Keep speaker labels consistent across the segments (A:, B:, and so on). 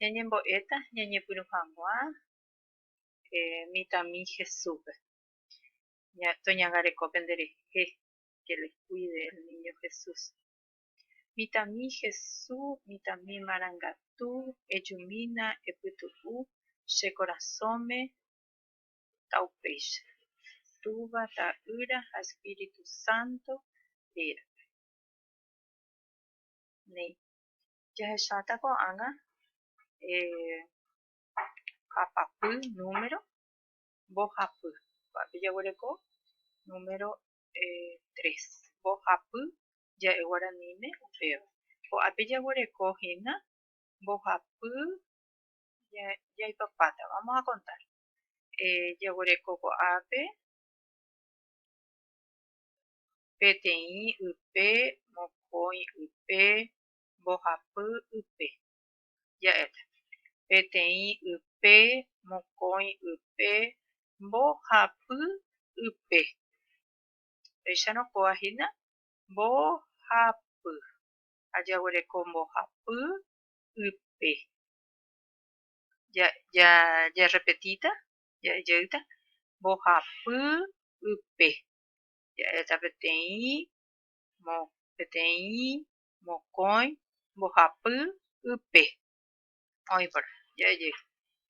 A: Ñañembo'éta ñañepyrũ hag̃ua mitãmi Jesúspe. Toñangareko penderehe que les cuide el niño Jesús. Mitãmi Jesús, mitãmi marangatu, ejumína, epytu'u che korasõme ta upéicha, Túva, Ta'ýra ha Espíritu Santo rérape. Néi. jahecháta ko'ág̃a hapapy número mbohapy. Ko'ápe jaguereko número tres, mbohapy ja'e guaraníme upéva. Ko'ápe jaguereko hína mbohapy jaipapáta, vamos a contar, jaguereko ko'ápe peteĩ ype, mokõi ype, mbohapy ype, ja'éta, peteĩ ype, mokõi ype, mbohapy ype. Péicharõ kóva hína mbohapy ha jaguereko mbohapy ype. Ja, jarrepetíta, ja'e jeýta, mbohapy ype, ja'éta peteĩ mo peteĩ mokõi mbohapy ype. Oĩ por jae jey.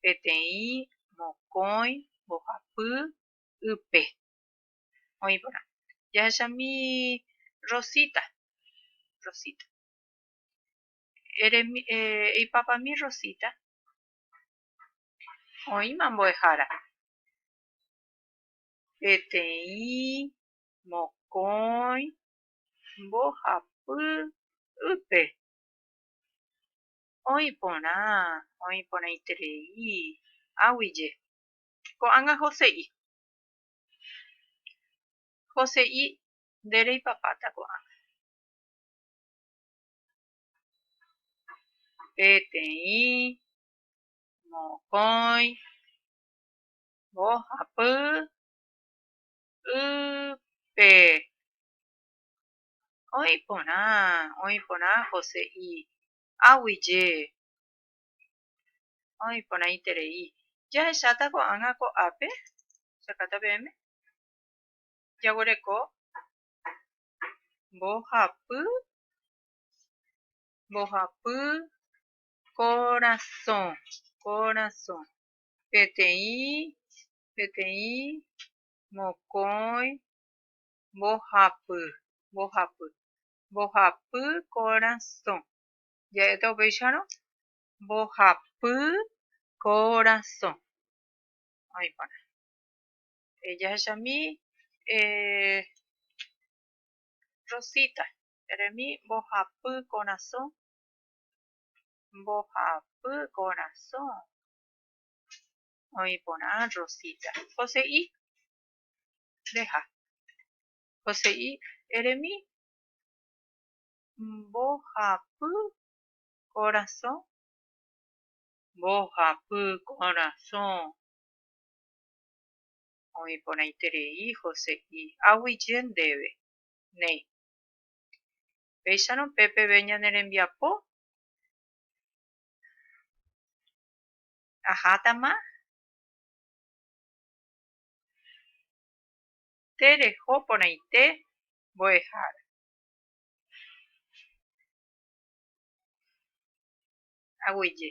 A: Peteĩ mokõi mbohapy ype. Oĩ por jahechami Rosita. Rosita. Eremi, eh, eipapami Rosita. Oĩma mbo'ehára. Peteĩ mokõi mbohapýpe oĩ porã, oĩ porãiterei águije. Ko'ág̃a hose'i. Hose'i nde reipapáta ko'ág̃a. Peteĩ mokõi mbohapy y pe oĩ porã, oĩ porã José y águi je oĩ porãiterei. Jahecháta ko'ágã ko ápe, jakáta peẽme, jaguereko mbohapy, mbohapy korasõ, korasõ, peteĩ Peteĩ mokõi mbohapy, mbohapy, mbohapy korasõ. Ja'éta upéicharõ, mbohapy korasõ. Oĩ porã. Jahechami Rosita, eremi mbohapy korasõ, mbohapy korasõ. Oĩ porã Rosita. Jose'i. Reja. Jose'i, eremi mbohapy korasõ. Mbohapy korasõ. Oĩ porãiterei Jose'i. Aguije ndéve. Néi. Péicharõ pe peve ñane rembiapo. ahátama tereho porãite mbo'ehára. Aguyje.